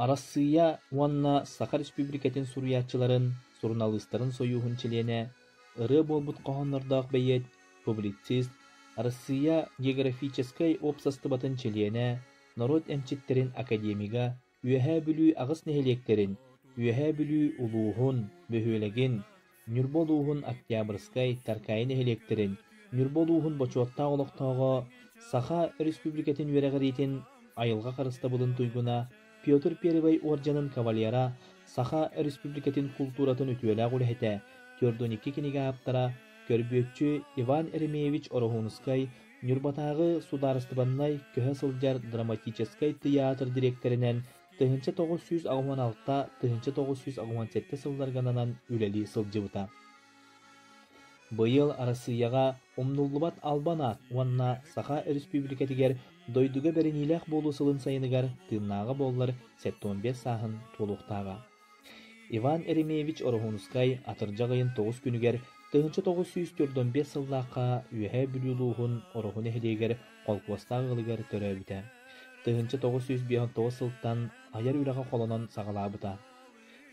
Арассыыйа уонна Саха Республикатын суруйааччыларын суруналыыстарын сойууһун чилиэнэ, ырыа буолбут хоһооннордоох бэйиэт, публицист, Арассыыйа географическай уопсастыбатын чилиэнэ, норуот эмчиттэрин академига, Үөһээ Бүлүү аҕыс нэһилиэктэрин, Үөһээ Бүлүү улууһун, бөһүөлэгин, Ньурба улууһун Октябрьскай, Таркаи нэһилиэктэрин Ньурба улууһун бочуоттаах олохтооҕо, Саха Республикатын үөрэҕириитин айылҕа харыстабылын туйгуна Петр Первый уордьанын кавалера, Саха Республикатын култууратын үтүөлээх үлэһитэ, түөрт уон икки кинигэ ааптара, көрбүөччү Иван Еремеевич Ороһуунускай, Ньурбатааҕы судаарыстыбаннай көһө сылдьар драматическай тыйаатыр дириэктэринэн тыһыынча тоҕус сүүс аҕыһын алта тыһыынча тоҕус сүүс аҕыһын сэттэ сылларгананан үлэлии сылдьыбыта. Быйыл Арассыыйаҕа умнуллубат албан аат уонна Саха Өрөспүүбүлүкэтигэр дойдуга бэриниилээх буолуу сылын сайыныгар тыыннааҕа буоллар сэттэ уон биэс сааһын туолуохтааҕа. Иван Еремеевич Ороһуунускай атырдьах ыйын тоҕус күнүгэр тыһыынча тоҕус сүүс төрт уон биэс сыллаахха Үөһээ Бүлүү улууһун Ороһу нэһилиэгэр холкуостаах ыалыгар төрөөбүтэ. Тыһыынча тоҕус сүүс биэс он тоҕус сылтан айар үлэҕэ холонон саҕалаабыта.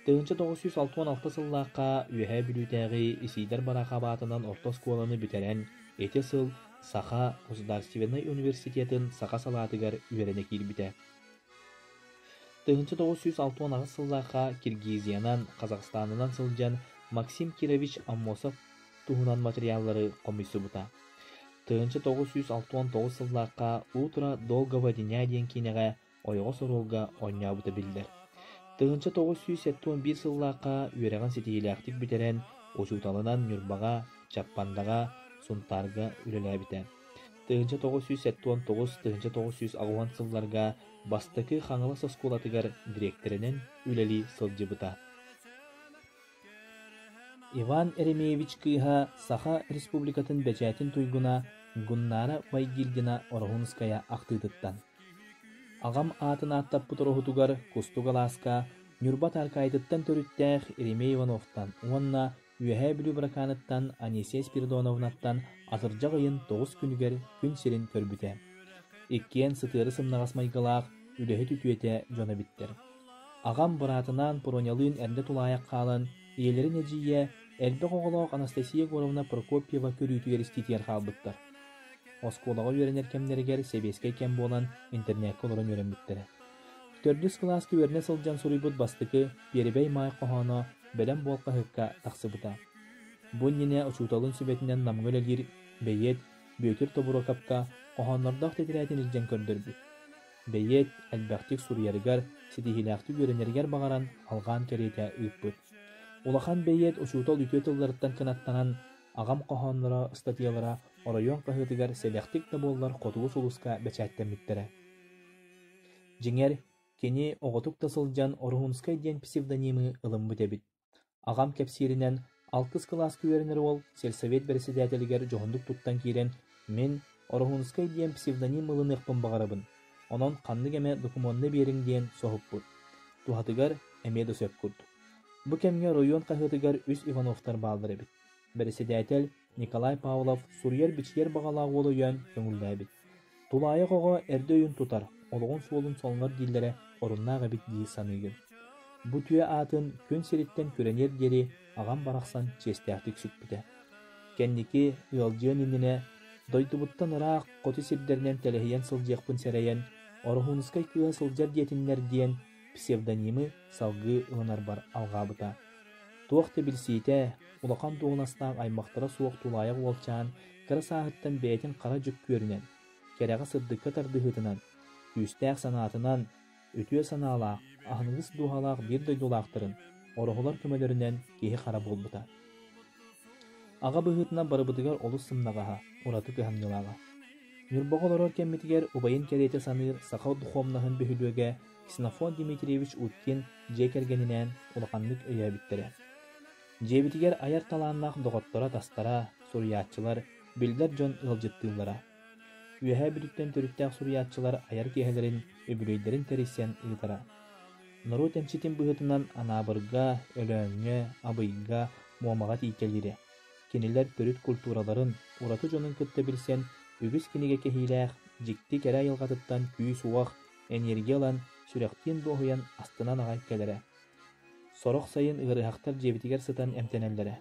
Тыһыынча тоҕус сүүс алта уон алта сыллаахха Үөһээ Бүлүүтээҕи Исиидэр бараакы абаатынан орто оскуоланы бүтэрэн, ити сыл Саха государственнай университетын саха салаатыгар үөрэнэ киирбитэ. Тыһыынча тоҕус сүүс алта уон аҕыс сыллаахха Киргизиянан, Казахстанынан сылдьан Максим Кирович Аммосов туһунан материаллары хомуйсубута. Тыһыынча тоҕус сүүс алта уон тоҕус сыллаахха «Утро долгого дня» диэн киинэҕэ ойоҕос-оруолга оонньообута биллэр. Тыһыынча тоҕус сүүс сэттэ уон биир сыллаахха үөрэҕин ситиһиилээхтик бүтэрэн, учууталынан Ньурбаҕа, Чаппандаҕа, Сунтаарга үлэлээбитэ. тыһыынча тоҕус сүүс сэттэ уон тоҕус тыһыынча тоҕус сүүс аҕыйах сылларга бастакы Хаҥалас оскуолатыгар дириэктэринэн үлэлии сылдьыбыта. Иван Еремеевич кыыһа Саха Республикатын бэчээтин туйгуна Гуннара Байгильдина Ороһунская ахтыытыттан Аҕам аатын ааттаппыт ороһутугар Кустук алааска Ньурба Таркаайытыттан төрүттээх Еремей Ивановтан уонна Үөһээ Бүлүү Быракааныттан Анисия Спиридоновнаттан атырдьах ыйын тоҕус күнүгэр күн сирин көрбүтэ. Иккиэн сытыары-сымнаҕас майгылаах, үлэһит үтүөтэ дьоно эбиттэр. Аҕам быраатынаан Пронялыын эрдэ тулаайах хаалан, ийэлэрин эдьиийэ, элбэх оҕолоох Анастасия Егоровна Прокопьева көрүүтүгэр истиитигэр хаалбыттар. Оскуолаҕа үөрэнэр кэмнэригэр сэбиэскэй кэм буолан интернекка олорон үөрэммиттэрэ. Төрдүс кылаас үөрэнэ сылдьан суруйбут бастакы Пиэрибэй Маай хоһооно Бэлэм буол хаһыакка тахсыбыта. Бу иннинэ учууталын сүбэтинэн Намҥа үлэлиир бэйиэт Бүөтүр Тобуруокапка хоһооннордоох тэтирээтин илдьэн көрдөрбүт. Бэйиэт элбэхтик суруйарыгар, ситиһиилээхтик үөрэнэригэр баҕаран алҕаан кэриэтэ ыыппыт. Улахан бэйиэт учуутал үтүө тылларыттан кынаттанан аҕам хоһоонноро, ыстатыйалара оройуон хаһыатыгар сэдэхтик да буоллар хотугу сулуска бэчээттэммиттэрэ. Дьиҥэр, кини оҕотук да сылдьан Орухунскай диэн псевдонимы ылыммыт эбит, аҕам кэпсииринэн, алтыс кылааска үөрэнэр уол сельсовет бэрэссэдээтэлигэр дьоһуннук туттан киирэн, мин Орухунскай диэн псевдоним ылыныахпын баҕарабын, онон ханнык эмэ докумуонна биэриҥ диэн соһуппут. Туһатыгар эмиэ да сөп курдук. Бу кэмҥэ оройуон хаһыатыгар үс Ивановтар бааллар эбит. Бэрэссэдээтэл Николай Павлов суруйар-бичийэр баҕалаах уол өйөөн көҥүллээбит: «Тулаайах оҕо эрдэ өйүн тутар, олоҕун суолун соҥнор дииллэрэ оруннаах эбит дии саныыгын. Бу түө аатын күн сириттэн күрэниэр диэри аҕам барахсан чиэстээхтик сүкпүтэ. Кэнники ыалдьыан иннинэ дойдубуттан ыраах хоту сирдэринэн тэлэһийэн сылдьыахпын сэрэйэн, Ороһуунускай кыыһа сылдьар диэтиннэр» диэн псевдонимы салгыы ылынарбар алҕаабыта. Туох да билсиитэ, улахан дуоһунастаах аймахтара суох тулаайах уолчаан кыра сааһыттан бэйэтин хара дьүк күөрүнэн, кэрэҕэ сырдыкка тардыһыытынан, күүстээх санаатынан, үтүө санаалаах, аһыныгыс дууһалаах биир дойдулаахтарын, ороһолор көмөлөрүнэн киһи-хара буолбута. Аҕа быһыытынан барыбытыгар олус сымнаҕаһа, ураты кыһамньылааҕа. Ньурбаҕа олорор кэммитигэр убайын кэриэтэ саныыр саха духуобунаһын бөһүөлүөгэ Ксенофонт Дмитриевич Уткин дьиэ кэргэнинээн улаханнык өйөөбүттэрэ. Дьиэбитигэр айар талааннаах доҕотторо-атастара, суруйааччылар, биллэр дьон ыалдьыттыыллара. Үөһээ Бүлүүттэн төрүттээх суруйааччылар айар киэһэлэрин, үбүлүөйдэрин тэрийсэн ыытара. Норуот эмчитин быһыытынан Анаабырга, Өлөөҥҥө, Абыйга, Муомаҕа тииккэлиирэ. Кинилэр төрүт культураларын, ураты дьонун кытта билсэн, үгүс кинигэ кэһиилээх, дьикти кэрэ айылҕатыттан күүс-уох, энергия ылан, сүрэхтиин дуоһуйан астынан аҕай кэлэрэ. Сорох сайын ыарыһахтар дьиэбитигэр сытан эмтэнэллэрэ.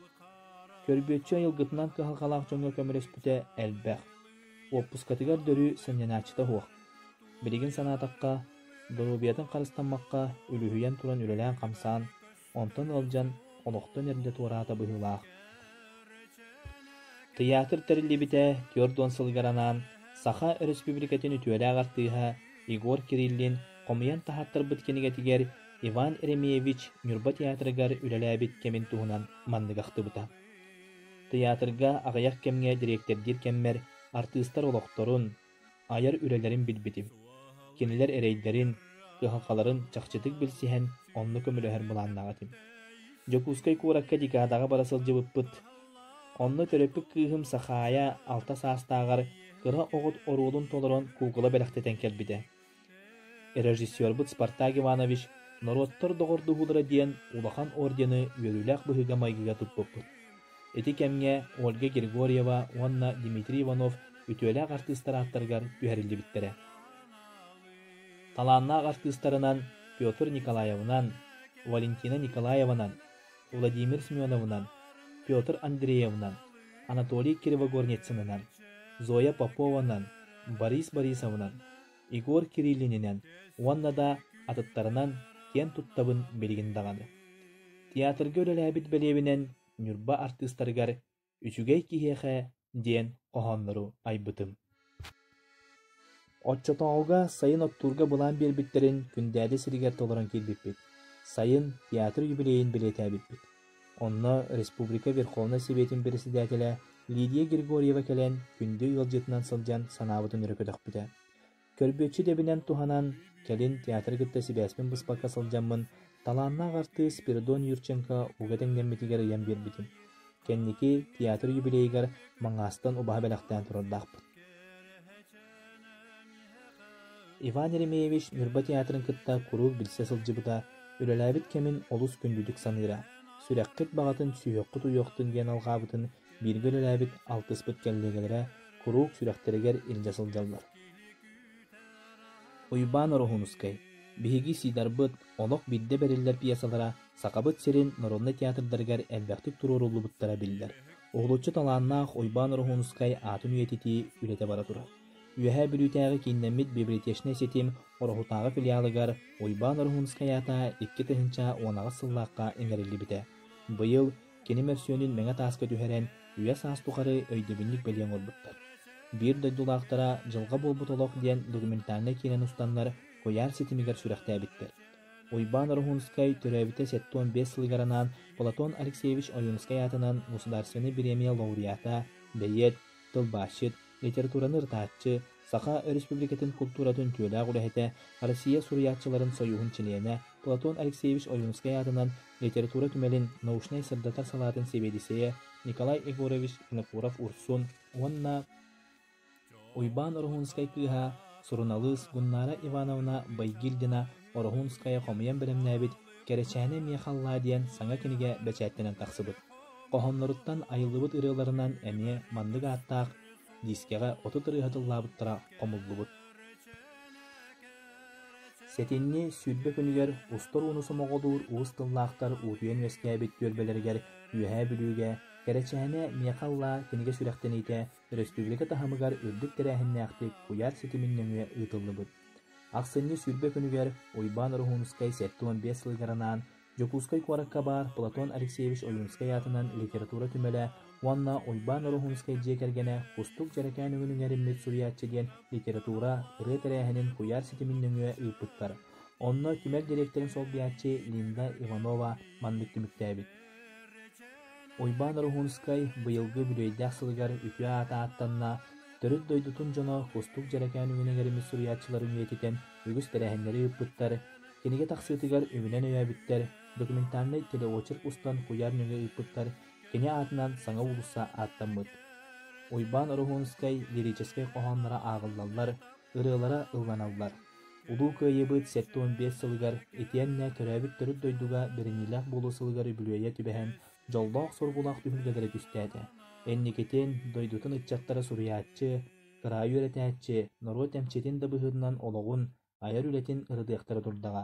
Көрбүөччү айылгытынан кыһалҕалаах дьоҥҥо көмөлөспүтэ элбэх. Уоппускатыгар дөрү сынньанааччыта суох. Билигин санаатахха, доруобуйатын харыстаммакка үлүһүйэн туран үлэлээн-хамсаан, онтон ыалдьан олохтон эрдэ туораата быһыылаах. Тыйаатыр тэриллибитэ түөрт уон сылыгар анаан Саха Өрөспүүбүлүкэтин үтүөлээх артыыһа Егор Кириллин хомуйан таһааттарбыт кинигэтигэр Иван Ремеевич Ньурба театрыгар үлэлээбит кэмин туһунан манныгахтыбыта: тыйаатырга аҕыйах кэмҥэ дириэктэрдиир кэммэр артыыстар олохторун, айар үлэлэрин билбитим, кинилэр эрэйдэрин, кыһалҕаларын чахчытык билсиһэн, онно көмөлөһөр былааннаах этим. Дьокуускай куоракка декадаҕа бара сылдьыбыппыт. Онно төрөппүт кыыһым Сахаайа алта саастааҕар кыра оҕот оруолун толорон куукула бэлэхтэтэн кэлбитэ. Режиссербыт Спартак Иванович «Норуоттар доҕордуһуулара» диэн улахан ордены үөрүүлээх быһыыга-майгыга туппуппут. Ити кэмҥэ Ольга Григорьева уонна Дмитрий Иванов үтүөлээх артыыстар ааттарыгар түһэриллибиттэрэ. Талааннаах артыыстарынан Петр Николаевынан, Валентина Николаеванан, Владимир Семеновынан, Петр Андреевнан, Анатолий Кривогорницынынан, Зоя Попованан, Борис Борисовнан, Егор Кириллининэн уонна да атыттарынан киэн туттабын билигин даҕаны. Театрга үлэлээбит бэлиэбинэн Ньурба артыыстарыгар үчүгэй киһиэхэ диэн хоһооннору айбытым. Оччотооҕуга сайын оттуурга былаан биэрбиттэрин Күндээди сиригэр толорон киирбиппит. Сайын театр юбилейын бэлиэтээбиппит. Онно Республика Верховнай Сэбиэтин председателэ Лидия Григорьева кэлэн күндү ыалдьытынан сылдьан санаабытын өрө көтөхпүтэ. Көлбүөччү дэбинэн туһанан, кэлин театры кытта сибээспин быспакка сылдьаммын, талааннаах артыыс Спиридон Юрченко ууга тэҥнэммитигэр ыйан биэрбитим. Кэнники театр юбилейыгар Маҥаастан убаһа бэлэхтээн турардаахпыт. Иван Еремеевич Ньурба театрын кытта куруук билсэ сылдьыбыта, үлэлээбит кэмин олус күндүтүк саныыра. Сүрэххит баҕатын, сүһүөххүт уйуохтун диэн алҕаабытын бииргэ үлэлээбит алтыспыт кэллиэгэлэрэ куруук сүрэхтэригэр илдьэ сылдьаллар Уйбаан Ороһуунускай биһиги Сидарбыт олох биирдэ бэриллэр пьесалара Сахабыт сирин норуонай театрдарыгар элбэхтик туруоруллубуттара биллэр уһулуччу талааннаах Уйбаан Ороһуунускай аатын үйэтитии үлэтэ бара турар Үөһээ Бүлүүтээҕи кииннэммит библиотечнай ситим Ороһутааҕы филиалыгар Уйбаан Ороһуунускай аата икки тыһыынча уон аҕыс сыллаахха иҥэриллибитэ быйыл Кини мөссүөнүн мэҥэ тааска түһэрэн, үйэ-саас тухары өйдөбүнньүк бэлиэ оҥорбуттар. Биир дойдулаахтара «Дьылҕа буолбут олох» диэн документальнай киинэни устаннар куйаар ситимигэр сүрэхтээбиттэр. Уйбаан Ороһунскай төрөөбүтэ сэттэ уон биэс сылыгар анаан Платон Алексеевич Ойуунускай аатынан государственнай бириэмийэ лауреата, бэйиэт, тылбаасчыт, литератураны ырытааччы, Саха Өрөспүүбүлүкэтин култууратын үтүөлээх үлэһитэ, Россия суруйааччыларын сойууһун чилиэнэ Платон Алексеевич Ойуунускай аатынан литература түмэлин научнай-сырдатар салаатын сэбиэдиссэйэ Николай Егорович Винокуров-Урсун уонна Уйбаан Ороһуунскай кыыһа, суруналыыс Гуннара Ивановна Байгильдина Ороһуунскайа хомуйан бэлэмнээбит «Кэрэчээнэ эмиэ халлаа» диэн саҥа кинигэ бэчээттэнэн тахсыбыт. Хоһоонноруттан айыллыбыт ырыаларынан эмиэ маннык ааттаах диискэҕэ отут ырыаһыт ыллаабыттара хомуллубут. Сэтинньи сүүрбэ күнүгэр устар ууну сомоҕолуур уус тыллаахтар уутуйан үөскээбит түөлбэлэригэр Үөһээ Бүлүүгэ «Кэрэчээнэ миэхэ аллаа» кинигэ сүрэхтэниитэ Өрөспүүбүлүкэ таһымыгар үрдүк тэрээһиннээхтик куйаар ситимин нөҥүө ыытыллыбыт. Ахсынньы сүүрбэ күнүгэр Уйбаан Ороһуунускай сэттэ уон биэс сылыгар анаан Дьокуускай куоракка баар Платон Алексеевич Ойуунускай аатынан литература түмэлэ уонна Уйбаан Ороһуунускай дьиэ кэргэнэ Кустук дьэрэкээн үҥүн иҥэриммит суруйааччы диэн литература ырыа тэрээһинин куйаар ситимин нөҥүө ыыппыттар. Онно түмэл дириэктэрин солбуйааччы Линда Иванова маннык түмүктээбит Уйбаан Ороһуунскай быйылгы үбүлүөйдээх сылыгар үтүө аата ааттанна, төрүт дойдутун дьоно Кустук дьэрэкээн үгүнүн эриммит суруйааччыларын үйэтитэн үгүс тэрээһиннэри ыыппыттар, кинигэ тахсыытыгар үбүнэн өйөөбүттэр, документальнай телеочерк устан куйаар нөҥүө ыыппыттар, кини аатынан саҥа уулусса ааттаммыт. Уйбаан Ороһуунскай лирическэй хоһоонноро ааҕыллаллар, ырыалара ылланаллар. Улуу Кыайыыбыт сэттэ уон биэс сылыгар итиэннэ төрөөбүт төрүт дойдуга бэриниилээх буолуу сылыгар үбүлүөйэ түбэһэн, дьоллоох-соргулаах түһүлгэлэрэ түстээтэ. Инникитин дойдутун ыччаттара суруйааччы, кыраайы үөрэтээччи, норуот эмчитин да быһыытынан олоҕун, айар үлэтин ырытыахтара турдаҕа.